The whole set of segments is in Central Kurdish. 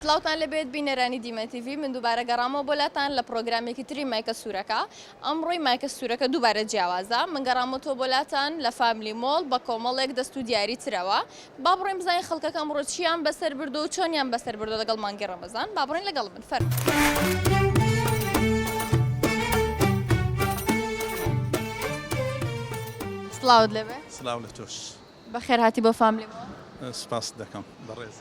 سڵاوتان لێبێت بینەرانی دیمەن تیڤی من دووبارە گەڕامەوە بۆ لاتان لە پڕۆگرامێکی تری مایکە سوورەکە ئەمڕۆی مایکە سوورەکە دووبارە جیاوازە من گەڕامەتەوە بۆ لاتان لە فاملی مۆڵ بە کۆمەڵێک دەست و دیاری ترەوە با بڕۆین بزانین خەڵکەکە ئەمڕۆ چییان بەسەر بردووە و چۆنیان بەسەر بردووە لەگەڵ مانگی ڕەمەزان با بڕۆین لەگەڵ من فەرموو. سڵاوت لێبێ. سڵاو لە تۆش. بەخێرهاتی بۆ فاملی مۆڵ. سوپاست دەکەم بەڕێز.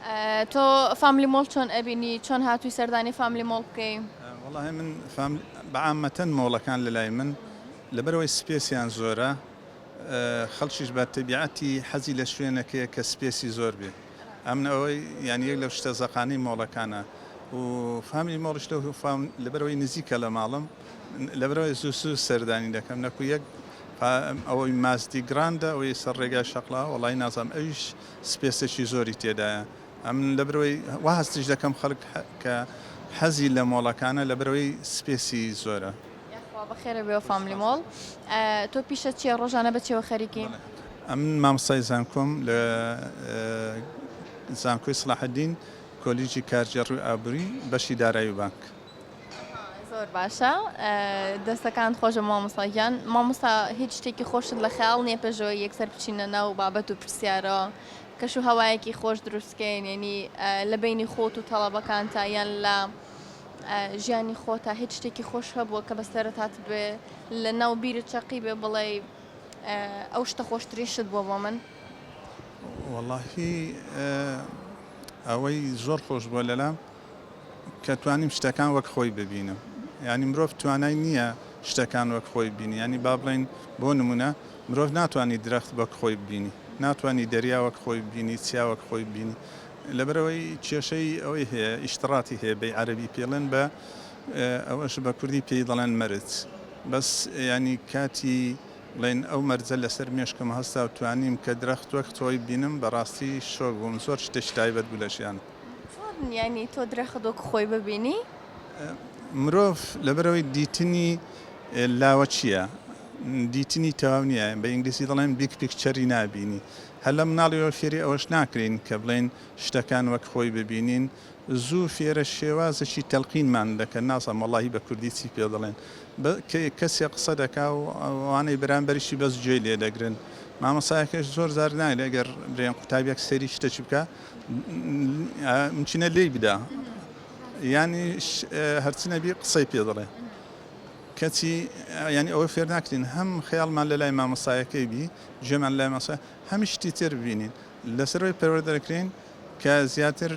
تۆ فاملی مۆڵ چۆن ئەبینی؟ چۆن هاتووی سەردانی فاملی مۆڵ بکەی؟ وەڵاهی من فام بە عامەتەن مۆڵەکان لە لای من لەبەرئەوەی سپێسیان زۆرە خەڵکیش بە تەبیعەتی حەزی لە شوێنێک هەیە کە سپێسی زۆر بێ ئەمن ئەوەی یانی یەک لەو شتە زەقانەی مۆڵەکانە و فاملی مۆڵیش لەو فام لەبەرئەوەی نزیکە لە ماڵم. لەبەرئەوەی زوو زوو سەردانی دەکەم نەکو یەک پا ئەوەی مازدی گراندە ئەوەی سەر ڕێگای شەقڵا وەڵی نازام ئەویش سپێسێکی زۆری تێدایە ئەم لەبەرەوەی وا هەستیش دەکەم خەڵک کە حەزی لە مۆڵەکانە لەبەرەوەی سپێسی زۆرە. یاخوا بەخێرە بێ فاملی مۆڵ تۆ پیشە چیە ڕۆژانە بە چێوە خەریکی؟ ئەم مامۆستای زانکۆم لە زانکۆی سڵاحەدین کۆلیجی کارگێڕی و ئابوری بەشی دارایی و بانک. زۆر باشە دەستەکانت خۆشە مامۆستا گیان مامۆستا هیچ شتێکی خۆشت لە خەیاڵ نییە پێشەوەی یەکسەر بچینە ناو بابەت و پرسیارەوە کەش و هەوایەکی خۆش دروستکەین یعنی لە بینی خۆت و تەڵەبەکانتە یان لە ژیانی خۆتا هیچ شتێکی خۆش هەبووە کە بەسەرتات بێ لە ناو بیرت چەقی بێ بڵێ ئەو شتە خۆشترین شت بووە بۆ من وەڵاهی ئەوەی زۆر خۆش بووە لەلام کە توانیم شتەکان وەک خۆی ببینم یانی مرۆڤ توانای نییە شتەکان وەک خۆی ببینی یانی با بڵێین بۆ نموونە مرۆڤ ناتوانی درەخت وەک خۆی ببینی ناتوانی دەریا وەک خۆی ببینی چیا وەک خۆی ببینی لەبەرەوەی کێشەی ئەوەی هەیە ئیشتڕاتی هەیە بەی عەرەبی پێڵێن بە ئەوەش بە کوردی پێی دەڵێن مەرج بەس یانی کاتی بڵێن ئەو مەرجە لەسەر مێشکم هەستا و توانیم کە درەخت وەک خۆی بینم بەڕاستی شۆک بووم زۆر شتێکی تایبەت بوو لە ژیانم چۆن یانی تۆ درەخت وەکو خۆی ببینی؟ مرۆڤ لەبەرئەوەی دیتنی لاوەکییە، دیتنی تەواو نییە، بە ئینگلیزی دەڵێن Big Picture ی نابینی، هەر لە مناڵیەوە فێری ئەوەش ناکرێین کە بڵێین شتەکان وەک خۆی ببینین، زوو فێرە شێوازێکی تەلقینمان دەکەن، نازانم وەڵاهی بە کوردی چی پێ دەڵێن، کەسێ قسە دەکا و ئەوانەی بەرامبەریشی بەس گوێی لێ دەگرن، مامۆستایەکەش زۆر جار نایەت ئەگەر برێن قوتابیەک سەیری شتەکی بکا، ممکنە لێی بدا یانیش هەرچی نەبی قسەی پێ دەڵێ کەچی ینی ئەوە فێر ناکرین هەم خەیاڵمان لە لای مامەسایەکەی بی جێمان لای ماسا هەمی شتی تێر ببینین لەسەرەوەی پەروەر دەکرین کە زیاتر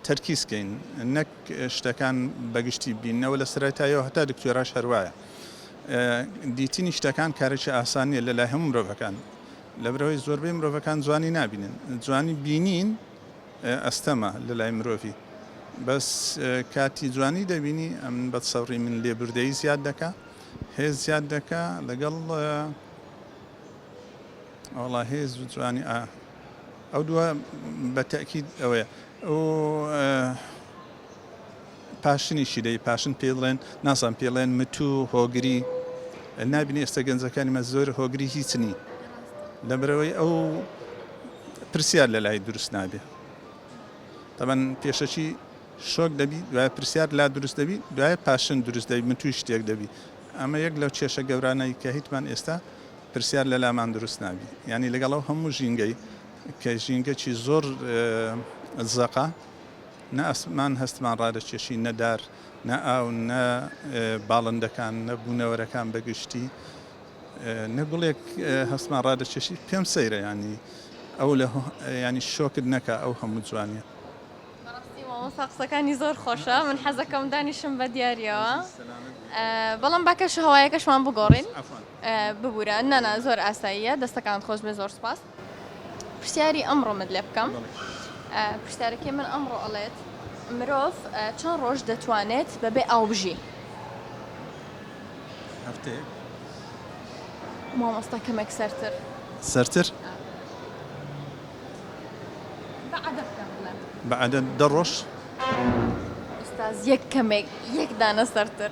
تەرکیزکەین نەک شتەکان بەگشتی بینەوە لە سەرەتایەوە هەتا دکتۆراش هەروایە دیتنی شتەکان کارێکی ئاسانیە لە لای هەموو مرۆڤەکان لەبرئەوەی زۆربەی مرۆڤەکان جوانی نابینن جوانی بینین ئەستەمە لەلای مرۆڤی بەس کاتی جوانی دەبینی ئەم بەدسەبری من لێبوردەیی زیاد دەکا هێز زیاد دەکا لەگەڵ ئەوڵا هێز و جوانی ئا ئەو دووە بە تەکیید ئەوەیە ئەو پاشنیشی دەی پاشن پێی دڵێن نازان پێی ڵێن متوو هۆگری نابینی ئێستا گەنجەکانی مە زۆر هۆگری هیچنی لەبرەوەی ئەو پرسیار لە لای دروست نابێ تەمەەن پێشەکی شۆک دەبی دوای پرسیار لا دروست دەبی دوای پاشن دروست دەبی من توی شتێک دەبی ئەمە یەک لەو کێشە گەورانەی کە هیچمان ئێستا پرسیار لە لامان دروست نابی ینی لەگەڵ ئەو هەموو ژینگەی کە ژینگەی زۆر زەقا نە ئاسمان هەستمان ڕادەکێشی، نە دار، نە ئاو، نە باڵندەکان، نە بوونەوەرەکان بە گشتی، نە گوڵێک هەستمان ڕادەکێشی. پێم سەیرە یانی ئەو لە یانی شۆکت نەکا ئەو هەموو جوانیە. بەڕاستی مامۆستا قسەکانی زۆر خۆشە من حەزەکەم دانیشم بە دیاریەوە بەڵام با کەش و هەوایەکەشمان بگۆڕین ببورە نانا زۆر ئاساییە دەستەکانت خۆشبێ زۆر سوپاس. پرسیاری ئەمڕۆمت لێ بکەم پرسیارەکەی من ئەمڕۆ ئەڵێت مرۆڤ چەند ڕۆژ دەتوانێت بەبێ ئاو بژی هەفتەیە مامۆستا کەمێک سەرتر سەرتر بەعادە دە ڕۆژ ئستاز یەک کەمێک یەک دانە سەرتر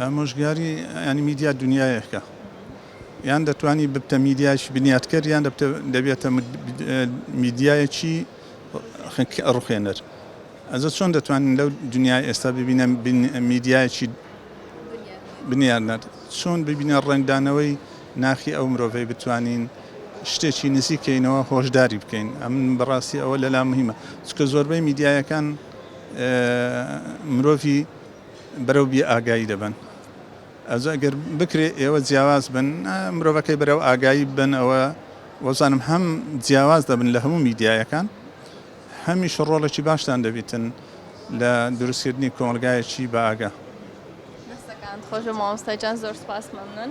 ئامۆژگاری یانی میدیا دونیایەکە یان دەتوانی ببتە میدیایکی بنیاتکەر یان دەبێتە میدیایەکی ڕخێنەر ئەزە چۆن دەتوانین لەو دنیای ئێستا ببینە میدیایکی بنیارنەر چۆن ببینە ڕنگدانەوەی ناخی ئەو مرۆڤەی بتوانین شتێکی نزیکەینەوە هۆشداری بکەین ئەم بەڕاستی ئەوە لەلا مهمە چکە زۆربەی میدیایەکان مرۆڤی بەرەو بێ ئاگایی دەبەن ئەجا گەر بکرێ ئێوە جیاواز بن مرۆڤەکەی بەرەو ئاگایی بن ئەوە وەزانم هەم جیاواز دەبن لە هەموو میدیایەکان هەمیش ڕۆڵێکی باشتان دەبیتن لە دروستکردنی کۆمەلگایەکی بە ئاگا خۆش مامۆستاجان زۆر سپاس مەمنون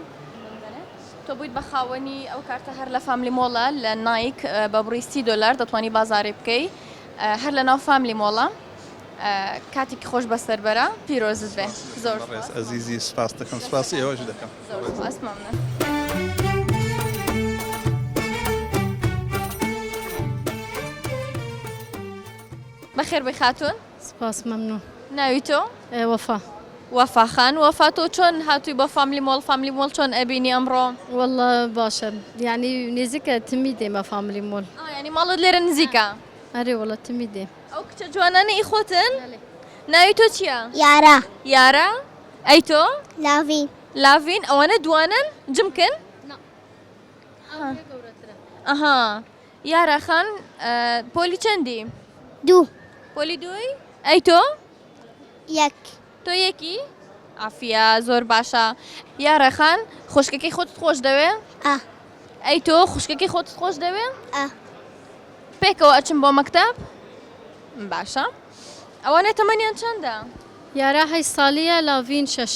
تۆ بوویت بە خاوەنی ئەو کارتە هەر لە فاملی مۆڵە لە نایک بە بڕیستی دلار دەتوانانی بازارێ بکەی هەر لە ناو فاملی مۆڵە کاتیکی خۆش بەسەر بەرە پیرۆزت بێ زۆر سپاس ئەزیزی سپاس دەکەم سپاسی ئێوەش دەکەم زۆر سپاس مەمنون. بەخێر بێی خاتوون سپاس مەمنون. ناوی تۆ؟ وەفا. وەفا خان وەفا تۆ چۆن هاتووی بۆ فاملی مۆڵ فاملی مۆڵ چۆن ئەبینی ئەمڕۆ؟ وەڵا باشە یانی نیزیکە تمی دێمە فاملی مۆڵ. ئا یانی ماڵت لێرە نزیکە. ئەرێ وەڵا تمی دێم. ئەو کچە جوانانە ئی خۆتن؟ ناوی تۆ چیە؟ یارا. یارا؟ ئەی تۆ؟ لاڤین. لاڤین؟ ئەوانە دوانەن؟ جمکن؟ نا. ئەو لێ گەورەترە. ئەها. یارا خان پۆلی چەندی؟ دوو. پۆلی دووی؟ ئەی تۆ؟ یەک. تۆ یەکی؟ عافیە زۆر باشە. یا ڕێخان خوشکەکەی خۆتت خۆش دەوێ؟ ئە. ئەی تۆ خوشکەکەی خۆتت خۆش دەوێ؟ ئە. پێکەوە ئەچن بۆ مەکتەب؟ باشە. ئەوانە تەمەنیان چەندە؟ یارا هەشت ساڵییە لاڤین شەش.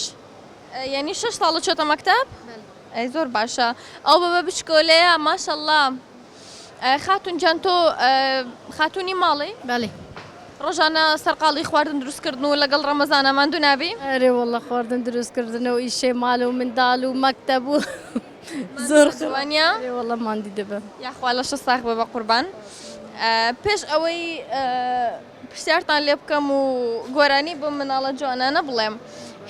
یەنی شەش ساڵە چۆتە مەکتەب؟ بەلە. ئەی زۆر باشە. ئەو بەبە بچکۆلەیە ماشەڵا. خاتون جان تۆ خاتونی ماڵی؟ بەڵێ. ڕۆژانە سەرقاڵی خواردن دروستکردن و لەگەڵ ڕەمەزانە ماندوو نابی؟ ئەرێ وەڵڵە خواردن دروستکردنە و ئیشێ مال و منداڵ و مەکتەب و زۆر وانە وەڵڵە ماندی دەبم. یاخوا لەشە ساخ بە بەقوربان پێش ئەوەی پرسیارتان لێ بکەم و گۆرانی بەم مناڵە جوانانە بڵێم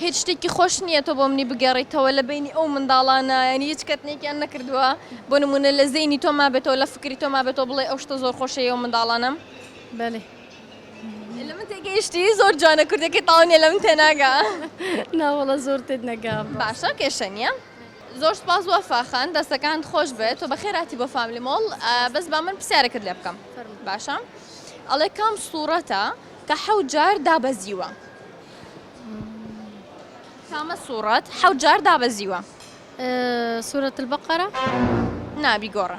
هیچ شتێکی خۆش نییە تۆ بۆ منی بگێڕیتەوە لە بەینی ئەو منداڵانە یانی هیچ کەتنێکیان نەکردووە بۆ نمونە لە زەینی تۆ مابێتەوە لە فکری تۆ مابێتەوە بڵێ ئەو شتە زۆر خۆشەیە و منداڵانم بەێ لە من تێگەیشتی زۆر جوانە کوردەکەی تاونێ لە من تێناگا ناوەڵە زۆر تێت نەگا باشە کێشە نیە زۆر سوپاس وەفا خان دەستەکانت خۆش بێت تۆ بەخێر هاتی بۆ فاملی مۆڵ بەس با من پرسیارەکەت لێ بکەم باشە ئەڵێ کام سوڕەتە کە حەوت جار دابەزیوە کامە سوڕەت حەوت جار دابەزیوە سورەت البقرە نابی گۆڕە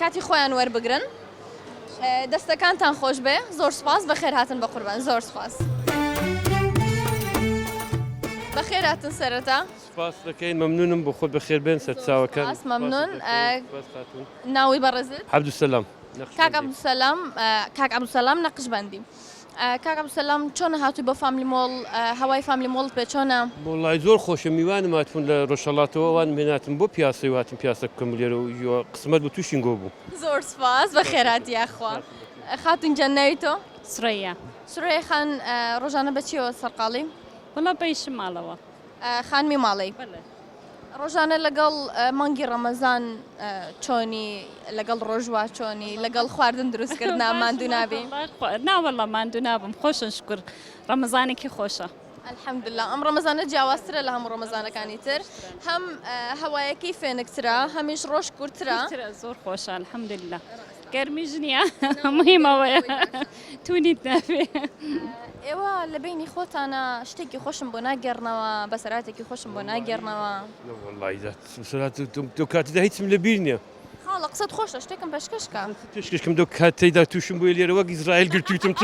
کاتی خۆیان وەربگرن. دەستەکانتان خۆش بێ زۆر سوپاس بەخێر هاتن بە قوربان زۆر سوپاس. بەخێراتن سەرەتا. سوپاست دەکەین مەمنونم بۆ خۆت بەخێر بێن سەرچاوەکان. سوپاس مەمنون ناوی بەڕێزت. عبدالسلام نەقشبەندی. کاک عبدالسلام کاک عبدالسلام نەقشبەندی. کاک عبدالسلام چۆنە هاتوی بۆ فاملی مۆڵ هەوای فاملی مۆڵت پێ چۆنە؟ وەڵای زۆر خۆشە میوانم هاتبوون لە ڕۆژهەڵاتەوە ئەوانم هێناتن بۆ پیاسەی و هاتم پیاسە بکەم لێرە و یوە قسمەت بوو تووشی نگۆ بووم. زۆر سوپاس بەخێر هاتی یاخوا. خاتون گیان ناوی تۆ؟ سورەیا. سورەیا خان ڕۆژانە بە چیەوە سەرقاڵی؟ وەڵا بە ئیشم ماڵەوە. خانمی ماڵی؟ بەڵێ. ڕۆژانە لەگەڵ مانگی ڕەمەزان چۆنی لەگەڵ ڕۆژوا چۆنی لەگەڵ خواردن دروستکردنا ماندوو نابی ناوەڵە ماندوو نابم خۆشن شکر ڕەمەزانێکی خۆشە ئەلحەمدللا ئەم ڕەمەزانە جیاوازترە لە هەموو ڕەمەزانەکانی تر هەم هەوایەکەی فێنکترا هەمیش ڕۆژ کورترا زۆر خۆشە الحەمدللا. گەرمیش نییە مهم ئەوەیە تونیت نابێ. ئێوە لە بەینی خۆتانە شتێکی خۆشم بۆ ناگەڕنەوە بە سەراتێکی خۆشم بۆ ناگەڕنەوە دو کاتدا هیچم لە بیر نییە خاڵە قسەت خۆشە شتێکم پێشکەشکە پێشکەشکم دو کاتەیدا تووشم بۆی لێرە وەک ئیسرائیل گرتوتم چ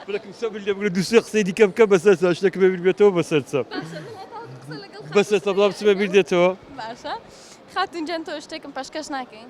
بەکم سە لێ بگرە دوسێ قسەی دیکە بکە بەسەر شتێک بێ بێتەوە بەسەر چە بەسەر سە بڵام چمە بیر دێتەوە خاتونجان تۆ شتێکم پێشکەش ناکەین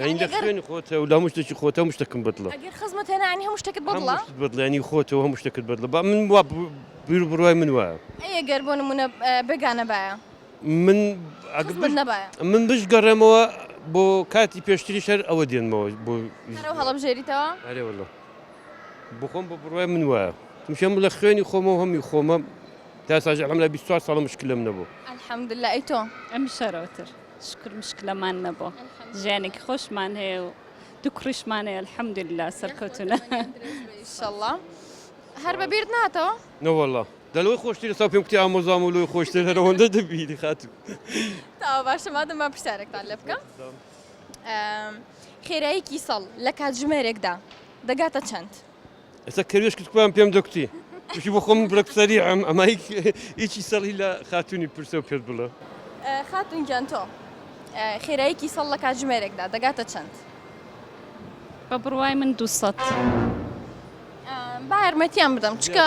ئایندە خوێنی خۆتە و لە هەموو شتێکی خۆتە هەموو شتەکم بەدڵە ئەگەر خزمەت هێنا یعنی هەموو شتێکت بەدڵە هەموو شتت بەدڵە یعنی خۆتە و هەموو شتێکت بەدڵە با من وا بیر و بڕوای من وایە ئەی ئەگەر بۆ نموونە بێگانە بایە من ئەگەر خزمەت بش- نەبایە من بشگەڕێمەوە بۆ کاتی پێشتری شەر ئەوە دێنمەوە بۆ هەرەو هەڵەبژێریتەوە ئەرێ واللە بخۆم بە بڕوای من وایە چونکە من لە خوێنی خۆمە و هەمی خۆمە تا ساژ الحمدلله 24 ساڵە مشکلم نەبوو الحمدلله ئەی تۆ ئەمیش شەرەوەتر شوکر مشکلەمان نەبوو ژیانێکی خۆشمان هەیە و دوو کوڕیشمان هەیە الحمدللە سەرکەوتوونە ئینشەڵڵا هەر بە بیرت ناتەوە نەوەڵا دەلەوەی خۆشتری سا پێم کوتی ئامۆزام و لۆی خۆشتر هەرەوەندە دەبیری خاتوو تا باشە مادەم با پرسیارێکتان لێ بکەم خێرایەکی ساڵ لە کاتژمێرێکدا دەگاتە چەند؟ ئێستا کەروێش کرد کوان پێم دەکوتی وشی بۆ خۆم برەک سەریعم ئەمە هیچی سەڵی لە خاتونی پرسە و پێت بڵە خاتون گیان تۆ خێرایەکی سەڵ لە کاتژمێرێکدا دەگاتە چەند بە بڕوای من دوسەد با یارمەتیان بدەم چکە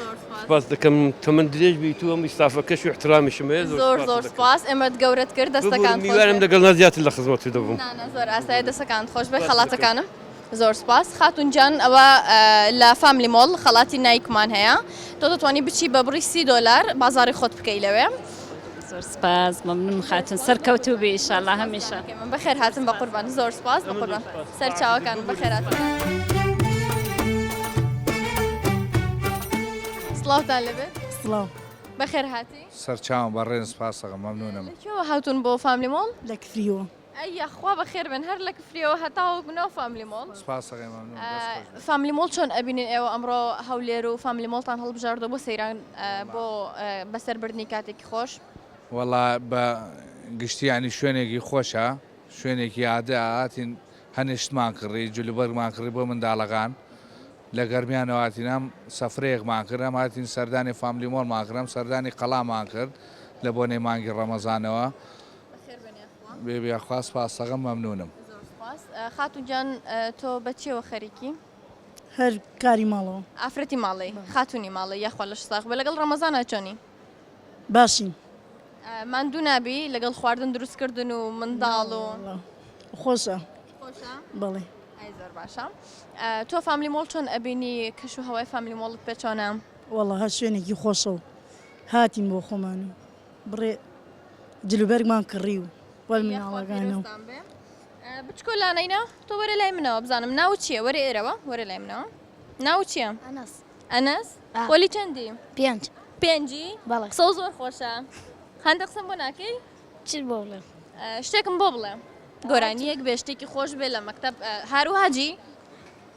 زۆر سوپاس. سوپاست دەکەم تەمەن درێژ بیت و هەموو ستافەکەش و ئیحترامشم هەیە زۆر زۆر سوپاست زۆر دەکەم. سوپاس ئێمەت گەورەت کرد ببورن دەستەکانت خۆش میوانم بێت. لەگەڵ نا زیاتر لە خزمەتت دەبم. نا نا زۆر ئاسایە دەستەکانت خۆش بێت سوپاست دەکەم. خەڵاتەکانم. زۆر سوپاس خاتوون جان ئەوە لە فاملی مۆڵ خەڵاتی نایکمان هەیە تۆ دەتوانی بچی بە بڕی سی دۆلار بازاڕی خۆت بکەی لەوێ. زۆر سپاس مەمنون خاتون سەرکەوتو بی ئیشالا هەمیشە من بەخێر هاتم بە قوربان زۆر سپاس بە قوربان سەر چاوەکان بەخێر سڵاوتان لەبێ سڵاو بەخێر هاتی سەرچاوم بەڕێن سپاسەکە مەمنونم هاتون بۆ فاملی مۆڵ لە کفریوە ئەی یاخوا بەخێر بێن هەر لە کفریەوە هەتاوەکو ناو فاملی مۆڵ. سپاس ئەگەر مەمنون دەست خۆش بێت. فاملی مۆڵ چۆن ئەبینن ئێوە ئەمڕۆ هەولێر و فاملی مۆڵتان هەڵبژاردوە بۆ سەیران بۆ بەسەر بردنی کاتێکی خۆش؟ وەڵا بە گشتی یانی شوێنێکی خۆشە شوێنێکی یادە هاتین هەنێ شتمان کڕی جل و بەرگمان کڕی بۆ منداڵەکان لە گەرمیانەوە هاتین هەم سەفرەیەکمان کرد هەم هاتین سەردانی فاملی مۆڵمان کرد هەم سەردانی قەڵامان کرد لە بۆنەی مانگی ڕەمەزانەوە بەخێربێن یاخوا. بێبێ یاخوا سپاس سەغم مەمنونم. زۆر سپاس خاتون جان تۆ بە چیەوە خەریکی؟ هەر کاری ماڵەوە. ئافرەتی ماڵی خاتونی ماڵی یاخوا لەش ساغ بێ لەگەڵ ڕەمەزانا چۆنی؟ باشین. ماندوو نابی لەگەڵ خواردن دروست کردن و منداڵ و. خۆشە. خۆشە؟ بەڵێ. ئەی زۆر باشە تۆ فاملی مۆڵ چۆن ئەبینی کەش و هەوای فاملی مۆڵت پێ چۆنە؟ وەڵا هەر شوێنێکی خۆشە و هاتین بۆ خۆمان و. بڕێ جلوبەرگمان کڕی و وەل مناڵەکانە و بچکۆ لانەینا تۆ وەرە لای منەوە بزانم ناو چییە وەرە ئێرەوە وەرە لای منەوە ناو چییە ئەنەس ئەنەس وەلی چەندی پێنج پێنجی بەڵێ سەو زۆر خۆشە هەندە قسم بۆ ناکەی چ بۆ بڵێ شتێکم بۆ بڵێ گۆرانیەک بێ شتێکی خۆش بێ لە مەکتب هاروهاجی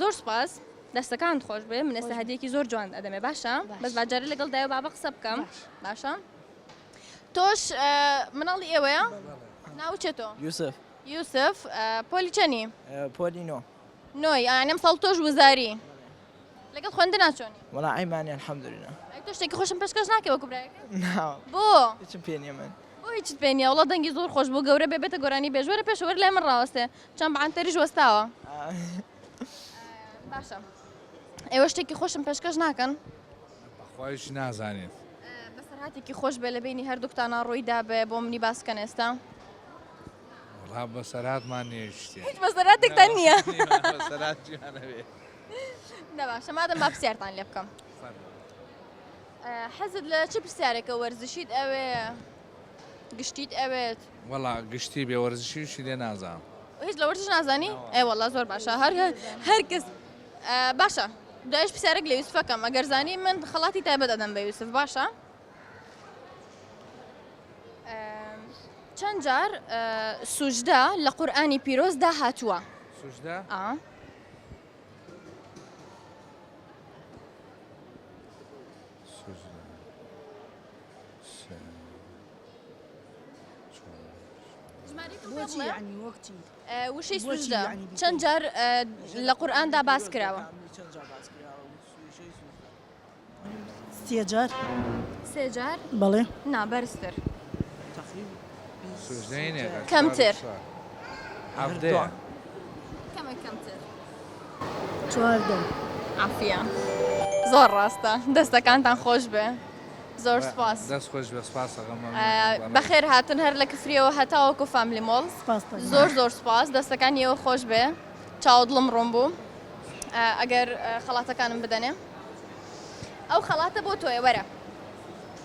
زۆر سوپاس دەستەکانت خۆش بێ من ئێستا هەدیەکی زۆر جوان ئەدەمێ باشە بەس باجارە لەگەڵ دایە بابە قسە بکەم باشە تۆش مناڵی ئێوەیە ناوچێتۆ یوسف یوسف پۆلی چەنی پۆلی نۆ نۆی ئەم ساڵ تۆش وزاری لەگەڵ خوێندە ناچۆنی وڵا ئەیمانی الحەمدلنا تۆ شتێکی خۆشم پێشکەش ناکە وەکو بۆ هیچم پێ نیە من هیچ پێنیە وڵا دەنگی زۆر خۆش بۆ گەورە بێ بێتە گۆرانی بێژوەرە پێشوەەر لای من ڕاستێ چەند بە عەنتەریش وەستاوە. باشە ئێوە شتێکی خۆشم پێشکەش ناکەن؟ بەخوایش نازانێت. بەسەرهاتێکی خۆش بێ لە بینی هەردووکتانە ڕووی دابێ بۆ منی باس بکەن ئێستا. وڵا بەسەرهاتمان نییە شتێ. هیچ بەسەرهاتێکتان نییە. نەباشە مادەم با پرسیارتان لێ بکەم. حەزت لە چ پرسیارێکە وەرزشیت ئەوێ؟ گشتیت ئەوێت؟ وەڵا گشتی بێ وەرزشی شی لێ نازانم. هیچ لە وەرزش نازانی؟ ئێ وەڵا زۆر باشە هەر هەر کەس باشە دوایش پرسیارێک لە یوسفەکەم ئەگەر زانی من خەڵاتی تایبەت ئەدەم بە یوسف باشە؟ چەند جار سوژدە لە قورآانی پیرۆزدا هاتووە سوژدە؟ وشەی سوژدە چەند جار لە قورئاندا باس کراوە سێجار سێجار بەڵێ نابەرزتر کەمتر کەمتر چواردە عافیە زۆر ڕاستە دەستەکانتان خۆشبێ زۆر سپاس دەست خۆش بێ سپاس ئەگەم مەمنونم. بەخێر هاتن هەر لە کفریەوە هەتاوەکو فاملی مۆڵ سپاستان. زۆر زۆر سپاس دەستەکانی ئێوە خۆش بێ چاوە دڵم ڕوون بوو ئەگەر خەڵاتەکانم بدەنێ ئەو خەڵاتە بۆ تۆیە وەرە.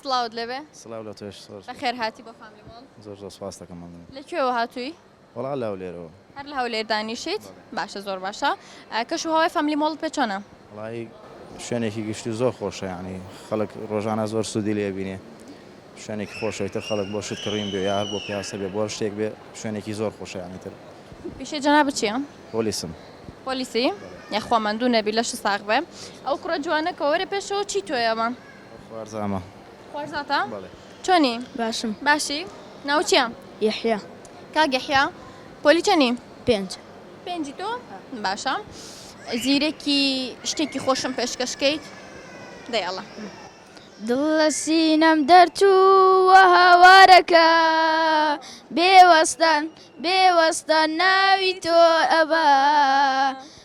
سڵاوت لێبێ. سڵاو لە تۆش زۆر سوپاس. بەخێر هاتی بۆ فامیلی مۆڵ. زۆر زۆر سوپاست دەکەم مەمنونم. لە کوێوە هاتووی؟ وەڵا لە هەولێرەوە. هەر لە هەولێر دانیشیت؟ بەڵێ. باشە زۆر باشە. کەش و هەوای فامیلی مۆڵت پێ چۆنە؟ وەڵایی شوێنێکی گشتی و زۆر خۆشە یانی خەڵک ڕۆژانە زۆر سوودی لێ ئەبینێ شوێنێکی خۆشە ئیتر خەڵک بۆ شت کڕین بێ یا هەر بۆ پیاسە بێ بۆ هەر شتێک بێ شوێنێکی زۆر خۆشە یانی تر. پیشەی جەنابت چیە؟ پۆلیسم. پۆلیسی؟ بەڵێ. یاخوا ماندوو نەبی لەشت ساغ بێ. ئەو کوڕە جوانە کە وەرە پێشەوە چی تۆیە ئەمە؟ خوارزامە. خوارزاتە؟ بەڵێ. چۆنی؟ باشم. باشی؟ ناوت چییە؟ یەحیا. کاک یەحیا، پۆلی چەنی؟ پێنج. پێنجی تۆ؟ باشە. زیرەکی شتێکی خۆشم پێشکەش کەیت؟ دەی ئەڵێ. دڵ لە سینەم دەرچووە هاوارەکە، بێوەستان بێوەستان ناوی تۆ ئەبا.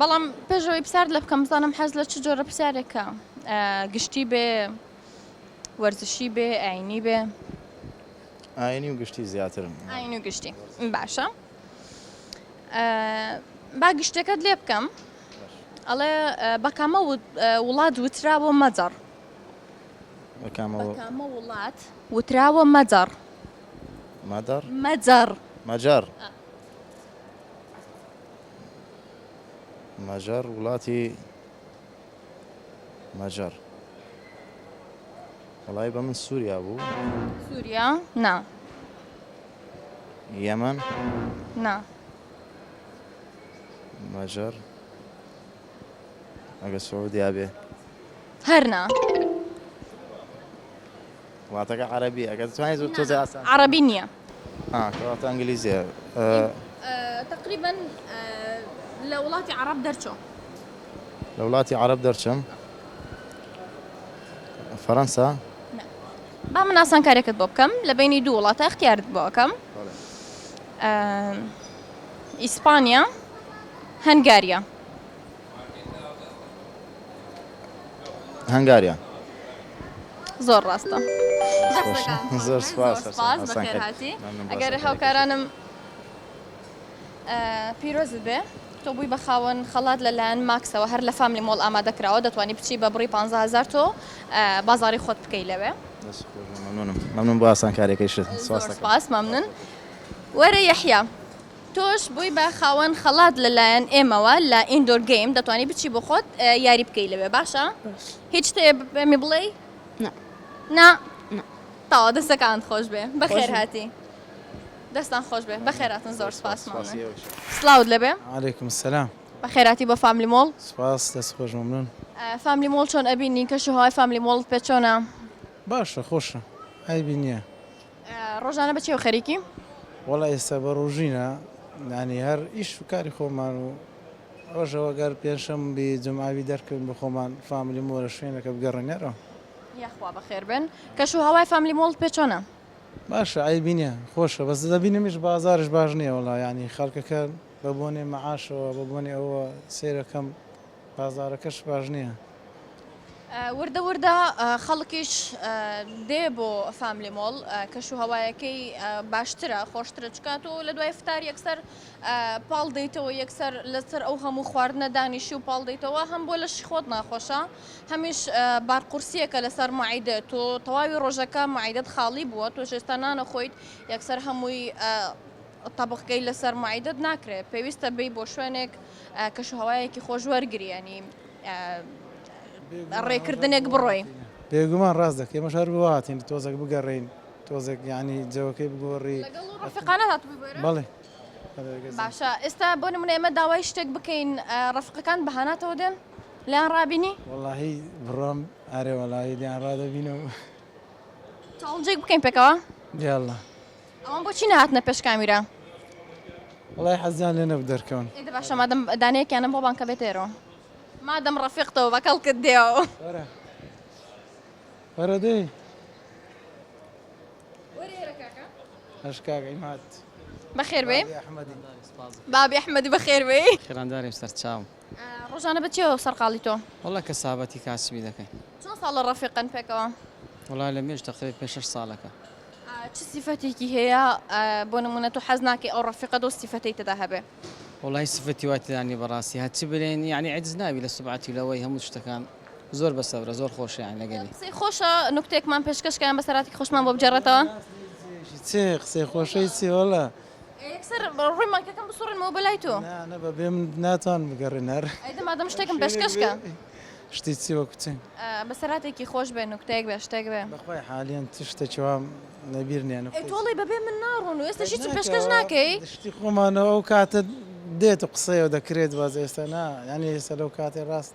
بەڵام پێش ئەوەی پسارت لە بکەم بزانم حەز لە چ جۆرە پسارێکە گشتی بێ وەرزشی بێ ئاینی بێ ئاینی و گشتی زیاترم ئاین و گشتی باشە با گشتەکەت لێ بکەم ئەڵێ بەکامە وڵات وتراوە مەجەڕ بەکامە وڵات وتراوە مەجەڕ مەدەڕ مەجەڕ مەجەڕ مەجەر وڵاتی مەجەر وڵای بە من سووریا بوو سووریا نا یەمەن نا مەجەر ئەگە سعودیا بێ هەرنا واتەکە عەرەبی ئەگەر توانیت زۆر تۆزێ ئاسان ترە. عەڕەبی نیە. ئا کەواتە ئەنگلیزیە ئە. تەقریبەن لە وڵاتی عەڕەب دەرچۆ. لە وڵاتی عەڕەب دەرچم. فەرەنسا. نا. با من ئاسانکاریەکت بۆ بکەم لە بەینی دوو وڵاتە ئەختیارت بۆ ئەکەم. بەڵێ. ئیسپانیا هەنگاریا. هەنگاریان. زۆر ڕاستە زۆر سپاس ئەگەر هاوکارانم پیرۆز بێ تۆ بووی بە خاوەن خەڵات لەلایەن ماکسەوە هەر لە فامی مۆڵ ئامادە کراوە دەتوانانی بچی بە بڕی 500هزار تۆ بازاری خۆت بکەی لەوێ ممنون بۆ ئاسانکارەکەی شت سپاس ممنون وەرە یحیا تۆش بووی بە خاوەن خەڵات لەلایەن ئێمەوە لە ئیندۆر گەیم دەتوانی بچی بۆ خۆت یاری بکەی لەوێ باشە هیچ شتێ بەمی بڵێ نا تاوا دەستەکانت خۆش بێ بەخێر هاتی دەستان خۆش بێ بەخێراتن زۆر سپاسمان سلااوت لەبێ علیکم سلام بەخێراتی بۆ فاملی مۆڵ سپاس دەست خۆش ممنون فاملی مۆڵ چۆن ئەبینی کەش و هەوای فاملی مۆڵ پێ چۆنە باشە خۆشە ئایبی نییە ڕۆژانە بە چێو خەریکیم؟ وەڵا ئێستا بە ڕوژینە یانی هەر ئیش و کاری خۆمان و ڕۆژەوە گەر پێنجشەم بی جمعاوی دەرکەوین بە خۆمان فاملی مۆرە شوێنەکە بگەڕنگەرەوە یاخوا بەخێر بن کەش و هەوای فاملی مۆڵ پێ چۆنە؟ باشە عەیبی نیە خۆشە بەس دەبینمیش بازاریش باش نیە وەڵا یانی خەڵکەکە بە بۆنەی مەعاشەوە بە بۆنەی ئەوە سەیرەکەم. بازاڕەکەش باش نییە. وردە وردە خەڵکیش دێ بۆ فاملی مۆڵ، کەش و هەوایەکەی باشترە، خۆشترە، چونکە تۆ لە دوای فتار یەکسەر پاڵ دێیتەوە، یەکسەر لەسەر ئەو هەموو خواردنە دانیشی و پاڵ دێیتەوە، هەم بۆ لەشی خۆت ناخۆشە، هەمیش بارقورسییەکە لەسەر مەعیدەت، تۆ تەواوی ڕۆژەکە مەعیدەت خاڵی بووە، تۆش ئێستا نانەخۆیت، یەکسەر هەمووی. تەبخکەی لەسەر مەعیدەت ناکرێت پێویستە بێی بۆ شوێنێک کەشوهەوایەکی خۆش وەرگری ینی ڕێکردنێک بڕۆی بێگومان ڕاست دەکەی مەش هەر بواتین تۆزەک بگەڕین تۆزێک ینی جەوەکەی بگۆڕی ڕفقانە هاتبووی بۆێ بڵێ باشە ئێستا بۆ نمونە ئێمە داوای شتێک بکەین ڕفقەکان بەهاناتەوە دێن لیان ڕابینی وڵی بڕۆم ئارێ وڵی لیان ڕادەبینەوە چاڵنجێک بکەین پێکەوە دیاڵە ئەوان بۆچی نەهاتنە پێش کامیرا؟ وەڵای حەزیان لێ نەبوو دەرکەون. ئێ دە باشە مادەم دانەیەکیانە بۆ بانکە بێتە ئێرەوە؟ مادەم ڕەفیق تۆ بە کەڵکت دێەوە. وەرە وەرە دەی. وەرە ئێرە کاکە. هەش کاکە ئیم هات. بەخێر بێی. بابی ئەحمەدی. بابی ئەحمەدی بەخێر بێی. خێرانداریم سەرچاوم. ڕۆژانە بە چیەوە سەرقاڵی تۆ؟ وەڵا کەسابەتی کاسبی دەکەین. چەند ساڵە ڕەفیقن پێکەوە؟ وەڵا لە مێژ تەقریبا پێ شەش ساڵەکە. چ سیفەتێکی هەیە بۆ نمونە تۆ حەز ناکەی ئەو ڕەفیقەت ئەو سیفەتەی تێدا هەبێ؟ وەڵای سیفەتی وا تێدا نیە بەڕاستی هەر چ بلێن یانی عەجز نابی لە سوبعەتی و لەوەی هەموو شتەکان زۆر بە سەبرە زۆر خۆشە یانی لەگەلی. قسەی خۆشە نوکتەیەکمان پێشکەش کە یان بەسەرهاتی خۆشمان بۆ بگێڕێتەوە؟ چ قسەی خۆشەی چی وەڵا. یەکسەر ڕووی مایکەکەم بسوڕێنمەوە بەلای تۆ. نا نا بە بێ من ناتوانم بگەڕێن هەر. ئەیدە مادەم شتێکم پێشکەش کە. شتی چی وەکو چی؟ بەسەرهاتێکی خۆش بێ نوکتەیەک بێ شتێک بێ. بەخوای حالیەن چ شتێکی وام لەبیر نیە نوکتەی چی. ئەی تۆڵەی بەبێ من ناڕۆن و ئێستەش هیچم پێشکەش ناکەی؟ ناکەوە شتی خۆمانە ئەو کاتە دێت و قسەیە و دەکرێت باس ئێستا نا یانی ئێستا لەو کاتەی ڕاست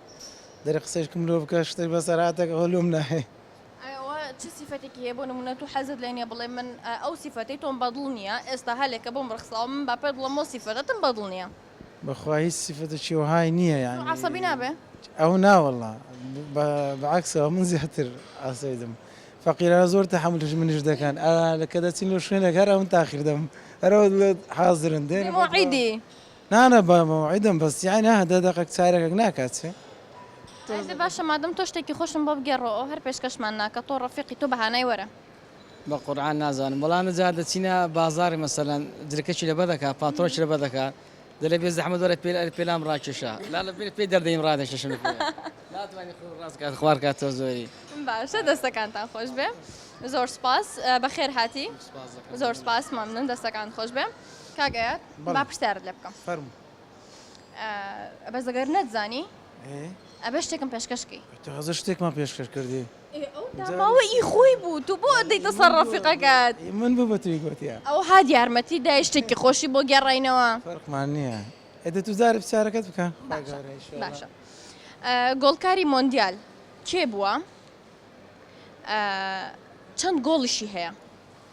دەرێ قسەیەک مرۆڤ بکا شتێک بەسەرهاتێک ئەوە لۆم نایەی. ئایا ئەوە چ سیفەتێکی هەیە بۆ نموونە تۆ حەزت لێ نییە بڵێ من ئەو سیفەتەی تۆم بەدڵ نییە ئێستا هەلێکە بۆم ڕەخساوە من با پێت بڵێم ئەو سیفەتەتم بەدڵ نییە. بەخوا هیچ سیفەتێکی وەهای نییە تۆ یانی عەسەبی نابێ؟ ئەو نا وەڵا بە عەکسەوە من زیاتر عەسەیدم فەقیرانە زۆر تەحەمول هژمنیش دەکەن ئا کە دەچین لۆ شوێنێک هەر ئەون تاخیر دەم هەر ئەو دڵێت حازرن دێنە بۆ موعیدی نا نا با مەوعیدم بەس یەعنی ئەه دە دەقەک چارەکەک ناکات چێ؟ ئەه دە باشە مادەم تۆ شتێکی خۆشم بۆ بگێڕۆ ئەو هەر پێشکەشمان ناکە تۆ ڕەفیقی تۆ بەهانای وەرە. بە قورعان نازانم بەڵام جا دەچینە بازاڕی مەسەلەن جرکەکی لەبەر دەکات پاتڕۆکی لەبەر دەکات دەلێ بێ زەحمەت وەرە پێ ئەرێ پێلام ڕاکێشە لا لە بیر پێی دەردەیم ڕادەکێشم لە پێ ناتوانی خۆ ڕاست کات خوار کات تۆ زۆری باشە دەستەکانتان خۆش بێ زۆر سوپاس بەخێر هاتی زۆر سوپاس مەمنون دەستەکانت خۆش بێ. کاک ئەیاد با پرسیارت لێ بکەم فەرموو بەس ئەگەر نەتزانی ئەبێ شتێکم پێشکەش کەی تازە شتێکمان پێشکەش کردی ماوە ئی خۆی بوو تو بۆ دەیتە سەر ڕەفیقەکەت من بوو بە توی گوتیا ئەو هاد یارمەتی دای شتێکی خۆشی بۆ گێڕاینەوە فەرقمان نییە ئەدە تو جارە پرسیارەکەت بکە باشە گۆڵکاری مۆندیال کێ بووە چەند گۆڵیشی هەیە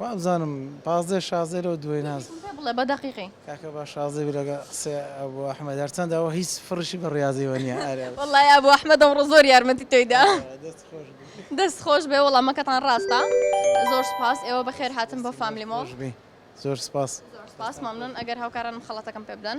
وابزانم پازدەی شازدەی لەو دووەی ناز. یەکێکم پێ بڵێ بە دەقیقی. کاکە با شازدەی بێ لەگەڵ قسەی ئەبو ئەحمەد هەرچەندە ئەوە هیچ فڕیشی بە ڕیاضی وە نیە ئەرێ. وەڵای ئەبو ئەحمەد ئەمڕۆ زۆر یارمەتی تۆی دا. دەست خۆش بی. دەست خۆش بێ وەڵامەکەتان ڕاستە زۆر سوپاس ئێوە بەخێر هاتن بۆ فاملی مۆڵ. دەستتان خۆش بی زۆر سوپاس. زۆر سوپاس مەمنون ئەگەر هاوکارانم خەڵەتەکەم پێ بدەن.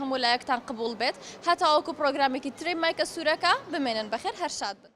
هەموو لایەکتان قبوڵ بێت هەتاوەکو پڕۆگرامێکی تری مایکە سورەکە بمێنن بەخێر هەر شاد بن.